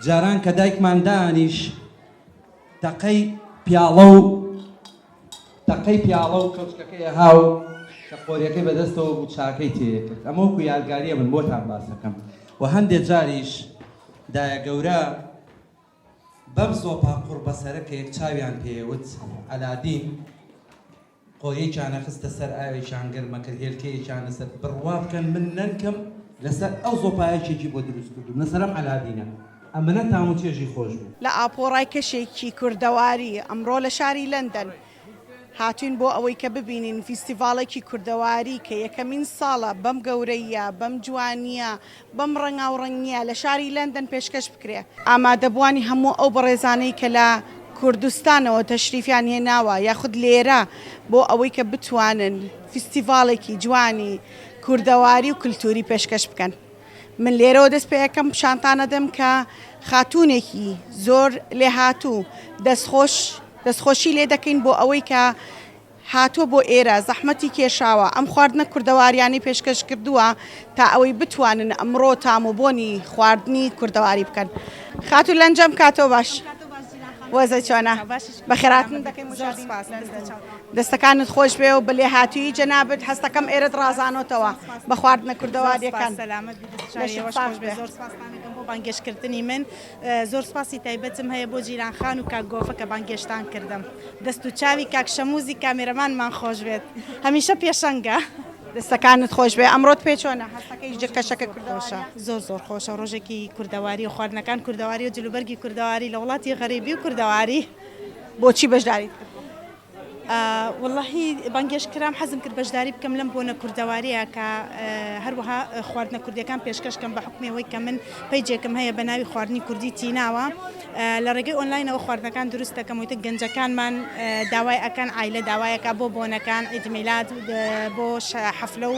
جاران کە دایکمان دانیش تەقەی پیاڵە و تەقەی پیاڵە و کەوچکەکەی ها و کە قۆریەکەی بەدەستەوە بوو چاکەی تێکرد ئەمە وەکو یادگاریە من بۆتان باسەکەم و هەندێک جاریش دایە گەورە بەم سۆپا قوڕبەسەرە کە یەک چاویان پێوت ئەلادین قۆیەکیانە خستە سەر ئاوێکیان گەرمە کرد هێلکەیەکیان لەسەر بڕوا بکەن من نەنکم لەسەر ئەو زۆپایە کێکی بۆ دروست کردووم لەسەر ئەم عەلادینە ئەمەنە تام و چێژی خۆش بوو. لە ئاپۆڕای کەشێکی کوردەواری، ئەمڕۆ لە شاری لەندەن هاتووین بۆ ئەوەی کە ببینین فیستیڤاڵێکی کوردەواری کە یەکەمین ساڵە بەم گەورەییە، بەم جوانییە، بەم ڕەنگاوڕەنگ نییە لە شاری لەندەن پێشکەش بکرێ. ئامادەبووانی هەموو ئەو بەڕێزانەی کە لە کوردستانەوە تەشریفیان هێناوە یاخود لێرە بۆ ئەوەی کە بتوانن فیستیڤاڵێکی جوانی کوردەواری و کلتووری پێشکەش بکەن من لێرەوە دەست پێ ئەکەم شانتان ئەدەم کە خاتوونێکی زۆر لێهاتوو دەستخۆش دەستخۆشی لێ دەکەین بۆ ئەوەی کە هاتووە بۆ ئێرە زەحمەتی کێشاوە، ئەم خواردنە کوردەواریانەی پێشکەش کردووە تا ئەوەی بتوانن ئەمڕۆ تام و بۆنی خواردنی کوردەواری بکەن. خاتوو لەنجەم کاتۆ باش وەزعت چۆنە؟ بەخێرهاتن دەکەین مشاهدین لەندەن. دەستەکانت خۆش بێ و بە لێهاتوویی جەنابت هەستەکەم ئێرەت ڕازانۆتەوە بە خواردنە کوردەواریەکان. لەشت ساخ بێ. زۆر سپاستان دەکەم بۆ بانگێشتکردنی من. زۆر سپاسی تایبەتم هەیە بۆ جیران خان و کاک گۆفە کە بانگێشتان کردم دەست و چاوی کاک شەموزی کامێرەمانمان خۆش بێت هەمیشە پێشەنگە. دەستەکانت خۆشبێ ئەمڕۆت پێ چۆنە هەستەکەی جلکەشەکە خۆشە. زۆر زۆر خۆشە ڕۆژێکی کوردەواری و خواردنەکان کوردەواری و جلوبەرگی کوردەواری لە وڵاتی غەریبی و کوردەواری. بۆچی بەژداریت کردووە؟ وەڵاهی بانگێشت کرام حەزم کرد بەشداری بکەم لەم بۆنە کوردەواریە کە هەروەها خواردنە کوردیەکان پێشکەش کەم بە حکمی ئەوەی کە من پەیجێکم هەیە بە ناوی خواردنی کوردی تیناوە لە ڕێگەی ئۆنلاینەوە خواردنەکان دروست دەکەم وتە گەنجەکانمان داوای ئەکەن عیلە داوایەکە بۆ بۆنەکان عیدمیلاد بۆ حەفلە و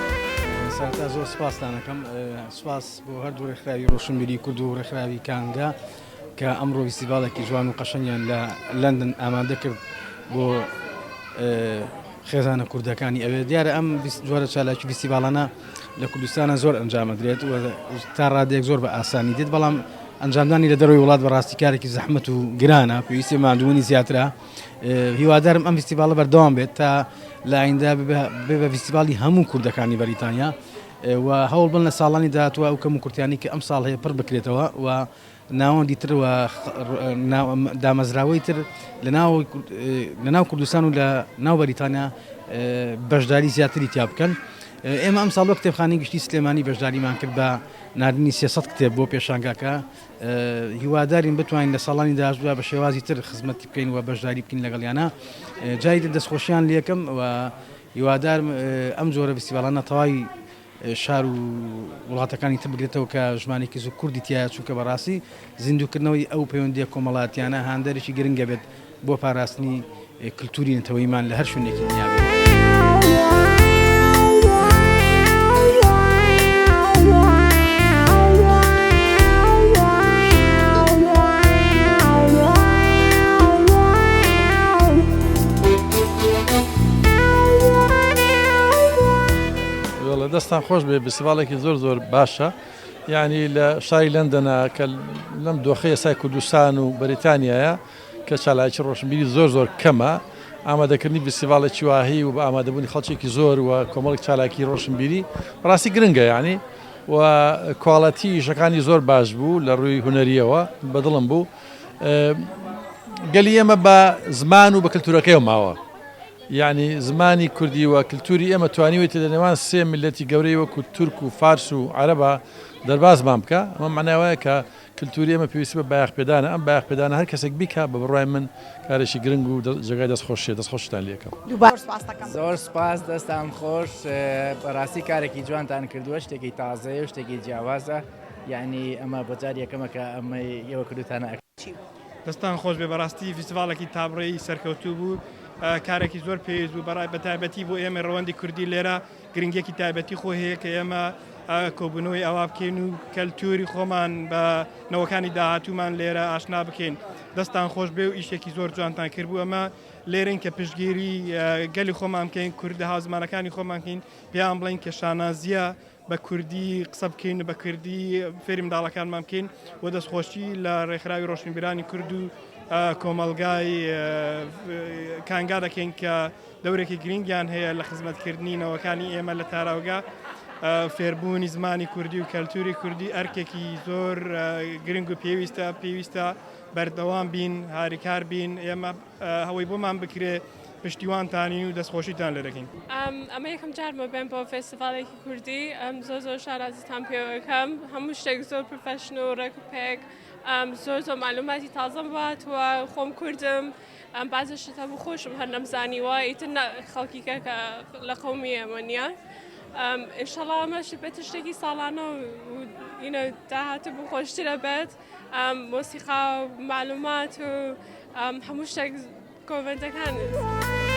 سەرەتا زۆر سپاستان ئەکەم سپاس بۆ هەردوو ڕێکخراوی ڕۆشنبیری کورد و ڕێکخراوی کانگا کە ئەمڕۆ ویسیڤالێکی جوان و قەشەنگیان لە لەندن ئامادە کرد بۆ خێزانە کوردەکانی ئەوێ دیارە ئەم جۆرە چالاکی ویسیڤالانە لە کوردستانە زۆر ئەنجامەدرێت و تا ڕادێک زۆر بە ئاسانی دێت بەڵام ئەنجامدانی لە دەروی وڵات بە ڕاستیکارێکی زەحمت و گرانە پێویستی مادوونی زیاترە هیوادارم ئەم فیستیڤاڵە بەردەوام بێت تا لە ئایندە بێ بە فیستیڤاڵی هەموو کوردەکانی بەریتانیا و هەوڵ بن لە ساڵانی داهاتوە ئەو کەم و کورتیانی کە ئەم ساڵ هەیە پڕ بکرێتەوە و ناوەندی تر و دامەزراوەی تر لە ناو کوردستان و لە ناو بەریتانیا بەشداری زیاتری تیا بکەن. ئێمە ئەم ساڵۆ کتێبخانی گشتی سلێمانی بەشداریمان کرد بە نردنی سێسەد کتێب بۆ پێشانگاکە هیوادارین بتوانین لە ساڵانی داهاتوودا بە شێوازی تر خزمەتی بکەین و بەشداری بکەین لەگەڵیانا جاری تر دەستخۆشیان لێکم و هیوادارم ئەم جۆرە فستیڤاڵانە تەواوی شار و وڵاتەکانی تر بگرێتەوە کە ژمارێکی زۆر کوردی تایە چونکە بەڕاستی زیندووکردنەوەی ئەو پەیوەندیە کۆمەڵاتیانە هاندەرێکی گرنگە بێت بۆ پاراستنی کلتوری نەتەوەیمان لە هەر شوێنێکی دنیابێت. دەستان خۆش بێ بسیباڵێکی زۆر زۆر باشە یعنی لە شاری لەندەنا کە لەم دۆخی ئێستای کوردستان و بەریتانیایە کە چالاکی ڕۆشنبیری زۆر زۆر کەمە، ئامادەکردنی ڤیستیڤاڵێکی واهی و بە ئامادەبوونی خەڵکێکی زۆر و کۆمەڵێک چالاکی ڕۆشنبیری بەڕاستی گرنگە یانی و کواڵەتی ئیشەکانی زۆر باش بوو لە ڕووی هونەریەوە بەدڵم بوو گەلی ئێمە بە زمان و بە کللتورەکەی ماوە یعنی زمانی کوردی و کللتوری ئێمە توانیوەی تە لە نێوان سێ ملەتی گەورەی وەکو تورک و فارس و عەرەبا دەربازمان بکە ئەمە معناوایە کە کلتوری ئێمە پێویستی بە بایەخ پێدانە ئەم بایەخ پێدانە هەر کەسێک بیکا بە بڕوای من کارێکی گرنگ و جێگای دەست خۆشیە دەست خۆشتان لێ ئەکەم. دووبارە سوپاس دەکەم. زۆر سوپاس دەستان خۆش بەڕاستی کارێکی جوانتان کردووە شتێکی تازەیە و شتێکی جیاوازە یعنی ئەمە بۆ جار یەکەمە کە ئەمەی ئێوە کردوتانە ئەکتیڤ. دەستان خۆش بێ بەڕاستی فیستیڤاڵێکی تابڕێی سەرکەوتوو بوو کارێکی زۆر پێویست بوو بەڕای بەتایبەتی بۆ ئێمەی ڕەوەندی کوردی لێرە گرنگیەکی تایبەتی خۆی هەیە کە ئێمە کۆبوونەوەی ئاوا بکەین و کەلتوری خۆمان بە نەوەکانی داهاتوومان لێرە ئاشنا بکەین دەستان خۆش بێ و ئیشێکی زۆر جوانتان کرد بوو ئەمە لێرن کە پشتگیری گەلی خۆمان بکەین کوردە هازمانەکانی خۆمانکەین پێیان بڵین کە شانازیە بە کوردی قسە بکەین بە کوردی فێری منداڵەکانمان بکەین و دەستخۆشی لە ڕێکخراوی ڕۆشنبیرانی کورد و کۆمەلگای کانگا دەکەین کە دەورێکی گرینگیان هەیە لە خزمەتکردنی نەوەکانی ئێمە لە تاراوگە. فێربوونی زمانی کوردی و کەلتوری کوردی ئەرکێکی زۆر گرنگ و پێویستە پێویستە بەردەوام بین هاریکار بین ئێمە هەوەی بۆمان بکرێ پشتیوانتانین و دەستخۆشیتان لێ دەکەین ئەمە یەکەم جارمە بێن بۆ فێستیڤالێکی کوردی ئەم زۆر زۆر شارازیتان پێوەکەم هەموو شتێک زۆر پرفەشن و ڕێک و پێک زۆر زۆر معلوماتی تازەم وهاتووە خۆم کوردم ئەم بازە شت هەبوو خۆشم هەر نەمزانیوە ئیتر خەڵکی کە کە لە قەومی ئێمە نییە ئێشەڵا ئەمەشی بێت شتێکی ساڵانە و ئینە داهاتە بوو خۆشترە بێت مۆسیقا و معلومات و هەموو شتێک کۆڤەنتەکان.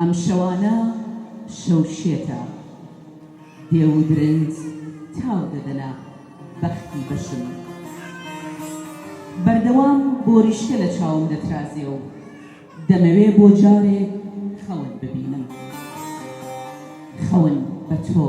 ئەم شەوانە شەو شێتە. دێو و درنج تاو دەدەنە بەختی بەشم. بەردەوام بۆریشکە لە چاوم دەترازێ و دەمەوێ بۆ جارێک خەون ببینم. خەون بە تۆ.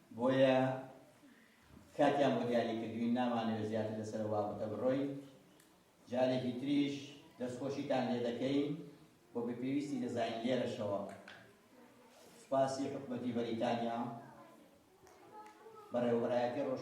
بۆیە کاتیان بۆ دیاری کردوین نامانەوێت زیاتر لەسەر ئەو بابەتە بڕۆین جارێکی تریش دەستخۆشیتان لێ دەکەین بۆ بە پێویستی دەزانین لێرەشەوە سپاسی حکومەتی بەریتانیا بەڕێوەبەرایەتی ڕۆژ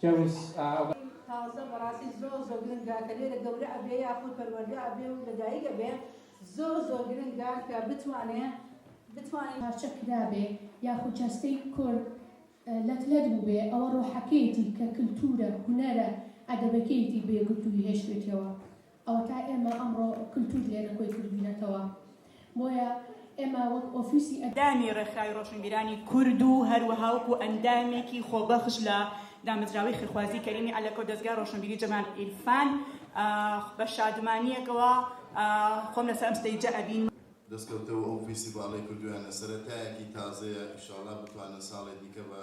کەویس. تازە بەڕاستی زۆر زۆر گرنگە کە لێرە گەورە ئەبێ یاخود پەروەردە ئەبێ و لەدایک ئەبێ زۆر زۆر گرنگە کە بتوانێ بتوانێ. پارچە کرابێ یاخود جەستەی کورد لەت لەت بووبێ ئەوە ڕۆحەکەیەتی کە کلتوورە هونەرە ئەدەبەکەیەتی بێگرتووی هێشتوێتیەوە. ئەوەتا ئێمە ئەمڕۆ کلتور لێرە کۆی کردوینەتەوە بۆیە ئێمە وەک ئۆفیسی ئە. دامی ڕێکخراوی ڕۆشنبیرانی کورد و هەروەها وەکو ئەندامێکی خۆبەخش لە دامەزراوەی خێرخوازی کەریمی عەلەکە و دەزگای ڕۆشنبیری جەمال عیرفان بە شادمانییەکەوە خۆم لەسەر ئەم ستەیجە ئەبینم. دەستکەوتە و ئەو فیستیڤاڵەی کردویانە سەرەتایەکی تازەیە ئیشاڵا بتوانن ساڵێ دیکە بە.